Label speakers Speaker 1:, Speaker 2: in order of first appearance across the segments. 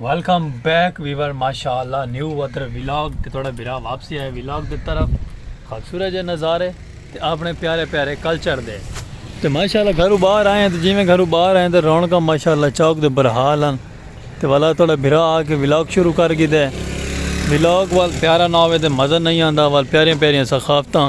Speaker 1: Welcome back viewer ماشاء اللہ new ودر ولاگ تے تھوڑا برا واپسی آئے ولاگ دے طرف خوبصورت جے نظارے تے اپنے پیارے پیارے کلچر دے تے ماشاء اللہ گھرو باہر آئے ہیں تے جی میں گھرو باہر آئے ہیں تے رونکا ماشاء اللہ چوک دے برحال ہیں تے والا تھوڑا برا آ کے ولاگ شروع کر گی دے ولاگ وال پیارا نہ ہوئے تے مزہ نہیں آندا وال پیارے پیارے ثقافتاں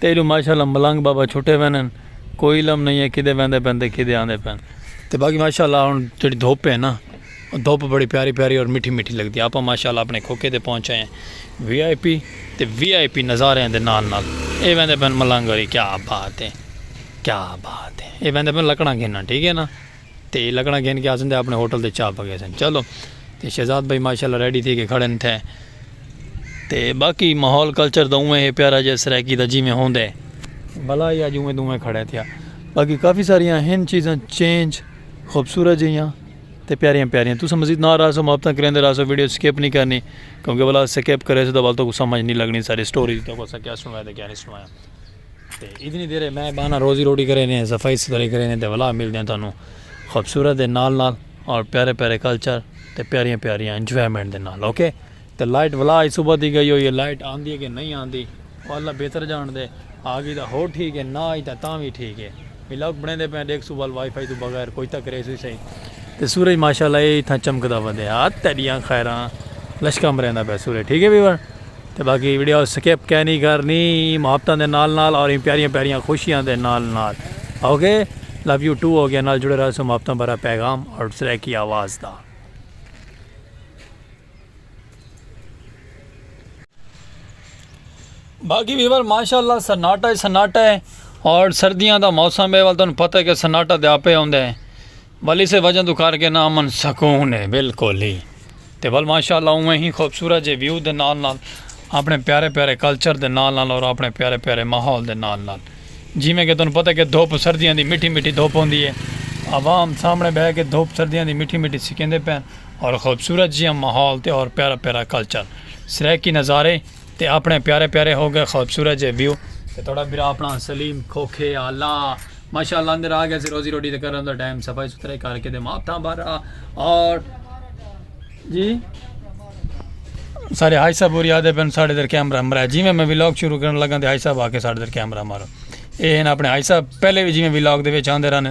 Speaker 1: تیݙوں ماشاءاللہ ملنگ بابا چھٹے ویندن کوئی علم نئیں ہے کدھے ویندے پن تے کدھے آندے پن تے باقی ماشاءاللہ ہن جیڑھی دھوپ ہے نا او دھوپ بڑی پیاری پیاری اور مٹھی مٹھی لگدی ہے آپاں ماشاءاللہ اپݨے کھوکے تے پہنچ آئے ہیں وی آئی پی تے وی آئی پی نظاریاں دے نال نال اے ویندے پن ملنگ آلی کیا بات ہے کیا بات ہے اے ویندے پن لکڑاں گھنن ٹھیک ہے نا۔ تے ایہ لکڑاں گھن کے آسن تے اپنے ہوٹل تے چا پکے سن۔ چلو تے شہزاد بھائی ماشاءاللہ ریڈی تھی کے کھڑن تھے۔ تے باقی ماحول کلچر دا اوویں ہے پیارا جیہے سرائیکی دا جیویں ہوندے۔ بھلا ہی اج اوویں دوویں کھڑے تھیا۔ باقی کافی ساریاں ہن چیزاں چینج خوبصورت جیہاں تے پیاریاں پیاریاں۔ تساں مزید نال رہسو محبتاں کریندے رہسو ویڈیو سکپ نہیں کرنی۔ کیونکہ بھلا سکپ کریسو تو بھلا تہاکوں سمجھ نہیں لگنی ساری سٹوری تہاکوں اساں کیا سنوائے تے کیا نہیں سنوایا۔ تے اتنی دیر اے میں بہانا روزی روٹی کرے نے صفائی ستھرائی کرے نے تے ولا ملدے ہیں تانوں خوبصورت دے نال نال اور پیارے پیارے کلچر تے پیاریاں پیاریاں انجوائمنٹ دے نال اوکے تے لائٹ ولا آج صبح دی گئی ہوئی ہے لائٹ آندی ہے کہ نہیں آندی وہ اللہ بہتر جان دے آگی دا ہو ٹھیک ہے نہ آئی تا تاں بھی ٹھیک ہے ولاگ بنے دے پہنے دیکھ صبح وائی فائی تو بغیر کوئی تک ریس ہوئی سہی تے سورج ماشاءاللہ اے تھا چمکدا ودے ہاتھ تیڈیاں خیراں لشکا مریندا پہ سورج ٹھیک ہے ویور تے باقی ویڈیو سکپ کینی کرنی ایں محبتاں دے نال نال اور ایں پیاریاں پیاریاں خوشیاں دے نال نال okay love you too okay نال جڑے رہسوں محبتاں بھرا پیغام اور سریکی آواز دا۔ باقی ویور ماشاءاللہ سناٹا ہی سناٹا ہے اور سردیاں دا موسم ہے ول تانوں پتہ ہے کہ سناٹا تے آپے ہوندے ہیں ول اسے وجہ توں کر کے نا امن سکون ہے بالکل ہی تے ول ماشاءاللہ اوویں ہی خوبصورت جے ویو دے نال نال اپنے پیارے پیارے کلچر دے نال نال اور اپنے پیارے پیارے ماحول دے نال نال جیویں کہ تانوں پتہ کہ دھوپ سردیاں دی مٹھی مٹھی دھوپ ہوندی ہے عوام سامنے بہہ کے دھوپ سردیاں دی مٹھی مٹھی سکیندے پئن اور خوبصورت جیہاں ماحول تے اور پیارا پیارا کلچر سرائیکی نظارے تے اپنے پیارے پیارے ہو گئے خوبصورت جے ویو تے تہاڈا بھرا اپنا سلیم کھوکھے آلا ماشاءاللہ اندر آ گیا سی روزی روٹی تے کرن دا ٹائم صفائی ستھرائی کر کے دے ماں تھا بارا اور جی سارے ہائی صاحب ہوری آدھے پن ساڑھے در کیمرہ مرا جی میں میں ویلاگ شروع کرن لگا تے ہائی صاحب آ کے ساڑھے در کیمرہ مارو اے ہیں اپنے ہائی صاحب پہلے بھی جی میں ویلاگ دے وچ آندے رہنے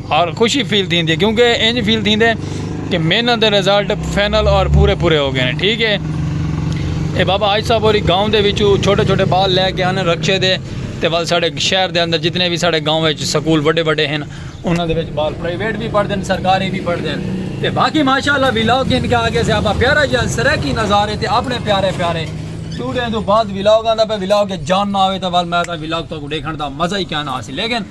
Speaker 1: اور خوشی فیل تھیندی ہے کیونکہ انج فیل تھیندے کہ محنت دے ریزلٹ فائنل اور پورے پورے ہو گئے ہیں ٹھیک ہے اے بابا آج صاحب اور گاؤں دے وچو چھوٹے چھوٹے بال لے کے آنے رکشے دے تے ول ساڑے شہر دے اندر جتنے بھی ساڑے گاؤں وچ سکول بڑے بڑے ہیں انہاں دے وچ بال پرائیویٹ بھی پڑھ دین سرکاری بھی پڑھ دین تے باقی ماشاءاللہ ویلاگ گھن کے آگے سے آپا پیارا جی سرکی نظارے تے اپنے پیارے پیارے چوڑے ہیں تو بعد ویلاگ آندہ پہ ویلاگ جان نہ آوے تو ول میں تا ویلاگ تو کو دیکھن دا مزہ ہی کیا نہ آسی لیکن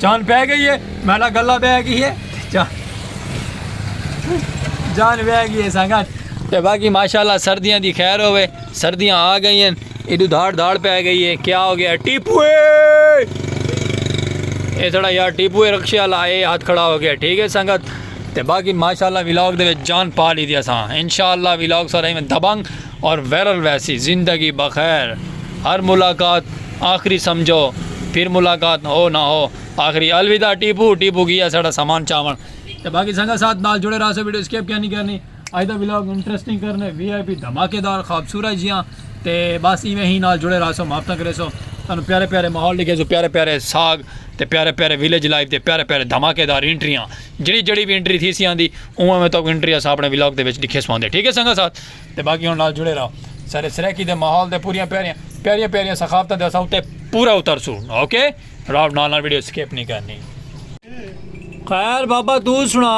Speaker 1: جان بہ گئی ہے میڈا گلا بہ گئی ہے جان جان بہ گئی ہے سنگت تے باقی ماشاءاللہ سردیاں دی خیر ہوے سردیاں آ گئی ہیں ایڈو دھاڑ دھاڑ پہ گئی ہے کیا ہو گیا ٹیپو اے تھوڑا یار ٹیپو رکشے والا اے ہاتھ کھڑا ہو گیا ٹھیک ہے سنگت تے باقی ماشاءاللہ ویلاگ دے وچ جان پا لی دی اساں انشاءاللہ ویلاگ سارے میں دبنگ اور ویرل ویسی زندگی بخیر ہر ملاقات آخری سمجھو پھر ملاقات ہو نہ ہو آخری الوداع ٹیپو ٹیپو گیا ساڑا سامان چاون تے باقی سنگت ساتھ نال جڑے رہا سو ویڈیو سکپ کینی کرنی اج دا ولاگ انٹرسٹنگ کرنے وی آئی پی دھماکے دار خوبصورت جیاں تے بس ایویں ہی نال جڑے رہا سو معاف نہ کرے سو تانوں پیارے پیارے ماحول لکھے سو پیارے پیارے ساگ تے پیارے پیارے ویلیج لائف تے پیارے پیارے دھماکے دار انٹریاں جڑی جڑی بھی انٹری تھی سی آندی اوویں اوویں تو انٹری اسا اپنے ولاگ دے وچ لکھے سو آندے ٹھیک ہے سنگت ساتھ تے باقی ہن نال جڑے رہو سارے سرائیکی دے ماحول دے پوریاں پیاریاں پیاریاں پیاریاں ثقافتاں دے اساں اتے پورا اترسوں اوکے راو نال نال ویڈیو سکپ نہیں کرنی خیر بابا تو سنا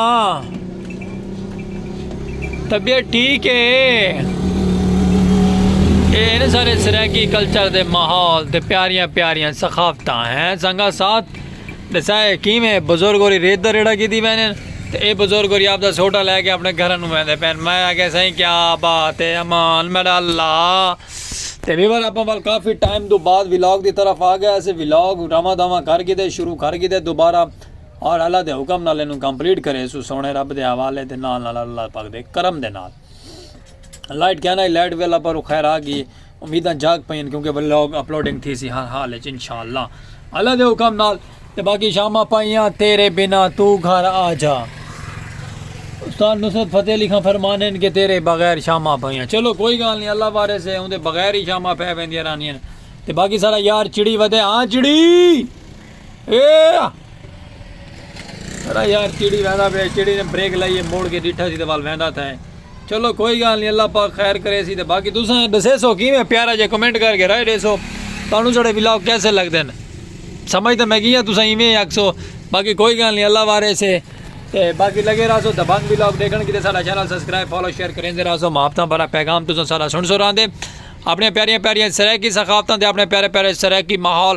Speaker 1: طبیعت ٹھیک ہے اے سارے سرائیکی کلچر دے ماحول تے پیاریاں پیاریاں ثقافتاں ہیں سنگا ساتھ ڈسا ہے کیویں بزرگ ہوری ریت دا ریڑھا گھدی پئے ہن تے اے بزرگ ہوری آپدا سوٹا لے کے اپنے گھراں نوں ویندے پئے ہن۔ میں آکھیا سائیں کیا بات ہے امان میڈا اللہ تے ویور اپاں ول کافی ٹائم توں بعد ولاگ دی طرف آ گئے اسیں ولاگ رواں دواں کر گھدے شروع کر گھدے دوبارہ اور اللہ دے حکم نال اینوں کمپلیٹ کریسوں سوہنے رب دے حوالے دے نال نال اللہ پاک دے کرم دے نال۔ لائٹ کیا نہ لائٹ ویلا پر خیر آ گئی امیداں جاگ پئین کیونکہ ولاگ اپلوڈنگ تھی سی ہر حال وچ انشاءاللہ اللہ دے حکم نال تے باقی شامہ پائیاں تیرے بنا تو گھر آ جا استاد نصرت فتح علی خان فرمانے کہ تیرے بغیر شامہ پائیاں چلو کوئی گال نہیں اللہ بارے سے اون دے بغیر ہی شامہ پہ ویندیاں رہنیاں تے باقی سارا یار چڑی ودے ہاں چڑی یار چیڑی ویندا پیا چیڑی نے بریک لائیے موڑ کے ڈیٹھا سی تے وال ویندا تھا چلو کوئی گال نہیں اللہ پاک خیر کرے سی تے باقی تساں دسے سو کیویں پیارا جے کمنٹ کر کے رائے دے سو تانوں جڑے ولاگ کیسے لگ دین سمجھ تے میں گیا تساں ایویں آکھ سو باقی کوئی گال نہیں اللہ وارے سے تے باقی لگے رہا سو دبنگ ولاگ دیکھن کیتے سارا چینل سبسکرائب فالو شیئر کریں دے رہا سو محبتاں بھرا پیغام تساں سارا سن سو راندے اپنے پیاریاں پیاریاں سرائیکی ثقافتاں دے اپنے پیارے پیارے سرائیکی ماحول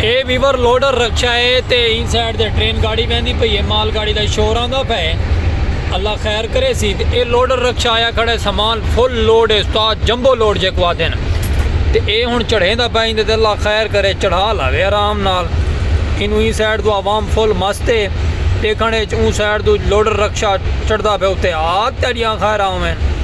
Speaker 1: اے ویور لوڈر رکشا ہے تے این سائیڈ دے ٹرین گاڑی ویندی پئی ہے مال گاڑی دا شور آندا پہ ہے اللہ خیر کرے سی تے اے لوڈر رکشا آیا کھڑے سامان فل لوڈ ہے استاد جمبو لوڈ جے کو آدھے نا تے اے ہن چڑھے دا پہ ایندے تے اللہ خیر کرے چڑھا لاوے آرام نال اینو این سائیڈ دو عوام فل مست ہے دیکھنے اچ اون سائیڈ دو لوڈر رکشا چڑھدا پہ اتے آگ تیڈیاں خیر آویں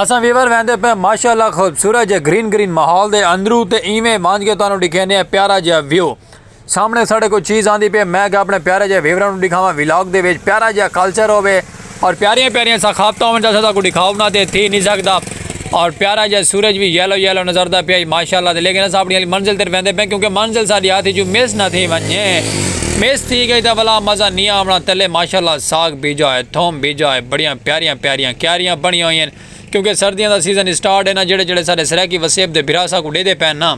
Speaker 1: اساں ویور ویندے پئے ماشاء اللہ خوبصورت جے گرین گرین ماحول دے اندرو تے ایویں مانجھ کے تانوں ڈکھیندے ہیں پیارا جیہا ویو سامنے ساڈے کوئی چیز آندی پئے میں کیا اپنے پیارے جیہے ویوراں نو ڈکھاواں ولاگ دے وچ پیارا جیہا کلچر ہووے اور پیاریاں پیاریاں ثقافتاں ہوون جیسا تاکوں ڈکھاؤ نہ تے تھی نی سکدا اور پیارا جیہا سورج وی یلو یلو نظر دا پیا ماشاء اللہ تے لیکن اساں اپنی منزل تے ویندے پئے کیونکہ منزل ساڈی ہاتھ وچوں مس نہ تھی ونجے۔ میس تھی گئی تاں ولا مزہ نی آونا تلے ماشاءاللہ ساگ بیجا ہے تھوم بیجا ہے بڑیاں پیاریاں پیاریاں کیاریاں بنیاں ہوئی ہیں کیونکہ سردیاں دا سیزن اسٹارٹ ہے نا جڑے جڑے سارے سرائیکی وسیب دے بھرا سا کو ڈے دے پین نا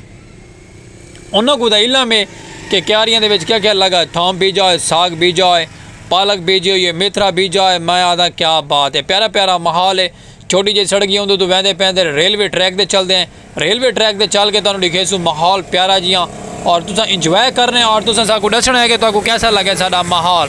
Speaker 1: انہاں کو دا علم ہے کہ کیاریاں دے وچ کیا کیا لگا ہے تھوم بیجا ہے ساگ بیجا ہے پالک بیجی ہوئی ہے میتھرا بیجا ہے میں آدھا کیا بات ہے پیارا پیارا محال ہے چھوٹی جی سڑکی ہوندے تو ویندے پیندے ریلوے ٹریک دے چل دے ہیں ریلوے ٹریک تے چل کے تانوں ڈکھیسوں ماحول پیارا جیاں اور تساں انجوائے کرنے اور تساں ساکو ڈسنا ہے کہ تاکو کیسا لگے ساڈا ماحول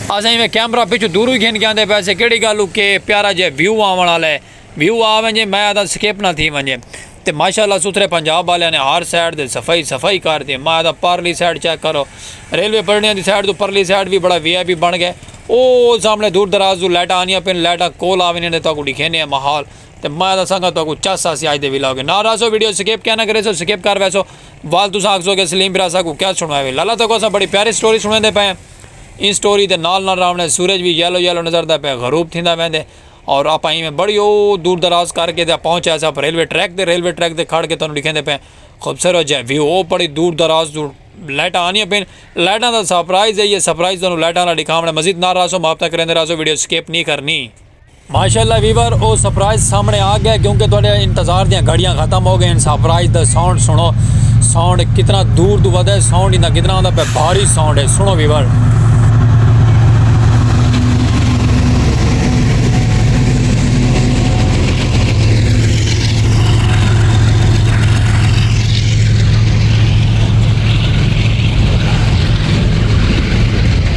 Speaker 1: اساں ایویں کیمرہ پیچھے دور ہی گھن کے آندے پے سے کیڑی گالو کے پیارا جے ویو آون والا ہے ویو آ ونجے میں آدا سکپ نہ تھی ونجے تے ماشاءاللہ ستھرے پنجاب والے نے ہر سائڈ تے صفائی ہی صفائی کر تے میں آدا پرلی سائڈ چیک کرو ریلوے پٹڑیاں دی سائڈ تو پرلی سائڈ بھی بڑا وی آئی پی بن گئے او سامنے دور دراز تو لائٹاں آنیاں پن لائٹاں کول آ ونجن تے تاکو ڈکھینے ماحول تے میں دساں گا تہاکوں چس آسی اج دے ولاگ اچ نال راہسو ویڈیو سکپ کیا نہ کریسو سکپ کر ویسو وال تساں آکھسو کہ سلیم بھرا اساکوں کیا سنڑوائے وے لالا تہاکوں اساں بڑی پیاری سٹوری سنڑیندے پئے ہیں ایں سٹوری دے نال نال راونے سورج وی یلو یلو نظردا پئے غروب تھیندا ویندے اور آپاں ایویں بڑی او دور دراز کر کے تے پہنچ آئے ساں ریلوے ٹریک تے ریلوے ٹریک تے کھڑ کے تہاکوں ڈکھیندے پئے خوبصورت جے ویو او بڑی دور دراز توں لائٹاں آنیاں پئین لائٹاں دا سرپرائز ہے یہ سرپرائز تہاکوں لائٹاں نال ڈکھاونے مزید نال راہسو محبتاں کریندے راہسو ویڈیو سکپ نی کرنی۔ ماشاءاللہ ویور او سرپرائز سامنے آ گئے کیونکہ تہاڈے انتظار دیاں گھڑیاں ختم ہو گئین سرپرائز دا ساؤنڈ سنڑو ساؤنڈ کتنا دور توں ودے ساؤنڈ ایندا کتنا ہوندا پے بھاری ساؤنڈ ہے سنڑو ویور۔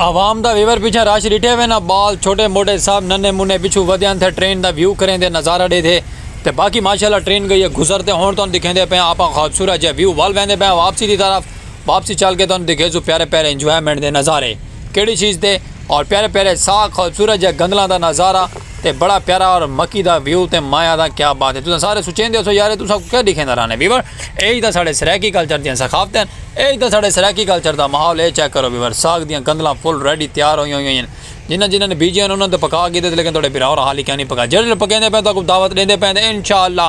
Speaker 1: عوام دا ویور پیچھے رش ڈٹھے ہوئے نا بال چھوٹے موٹے سب ننے منے پیچھو ودے آن تھے ٹرین دا ویو کریں دے نظارہ دے دے تے باقی ماشاءاللہ ٹرین گئی ہے گزر تے ہون تون دکھیں دے پہ آپ خوبصورت جے ویو وال ویندے پہ واپسی دی طرف واپسی چل کے تون دکھے سو پیارے پیارے انجوائمنٹ دے نظارے کیڑی چیز دے اور پیارے پیارے ساگ خوبصورت جے گندلاں دا نظارہ تے بڑا پیارا اور مکی دا ویو تے مایا دا کیا بات ہے تساں سارے سوچیندے ہوسو یار اے تساں کو کیا ڈیکھیندا رہنے ویور ایہی تاں ساڈے سرائیکی کلچر دیاں ثقافتاں ہن ایہی تاں ساڈے سرائیکی کلچر دا ماحول ہے اے چیک کرو ویور ساگ دیاں گندلاں فل ریڈی تیار ہویاں ہویاں ہن جنہاں جنہاں نے بیجیاں ہن انہاں نے تاں پکا گھیدے لیکن تہاڈے بھرا ہوراں حالی کائنی پکائے جیہڑے لوگ پکیندے پئے تہاکوں دعوت ڈیندے پئے تے انشاءاللہ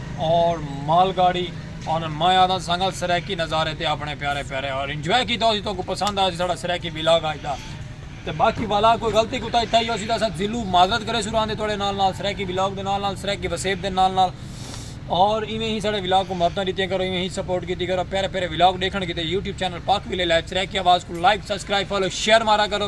Speaker 1: اور مال گاڑی اور میں آدھا سنگل سرائیکی نظارے تے اپنے پیارے پیارے اور انجوائے کیتا ہو سی تو کو پسند آیا سی ساڑا سرائیکی ویلاگ آج دا تے باقی والا کوئی غلطی کتا ہی تھا ہی ہو سی دا سا زلو معذرت کرے سو راندے توڑے نال نال سرائیکی ویلاگ دے نال نال سرائیکی وسیب دے نال نال اور ایمیں ہی ساڑے ویلاگ کو محبتہ دیتے ہیں کرو ایمیں ہی سپورٹ کیتی کرو پیارے پیارے ویلاگ دیکھن کیتے یوٹیوب چینل پاک ویلے لائف سرائیکی آواز کو لائک سبسکرائب فالو شیئر مارا کرو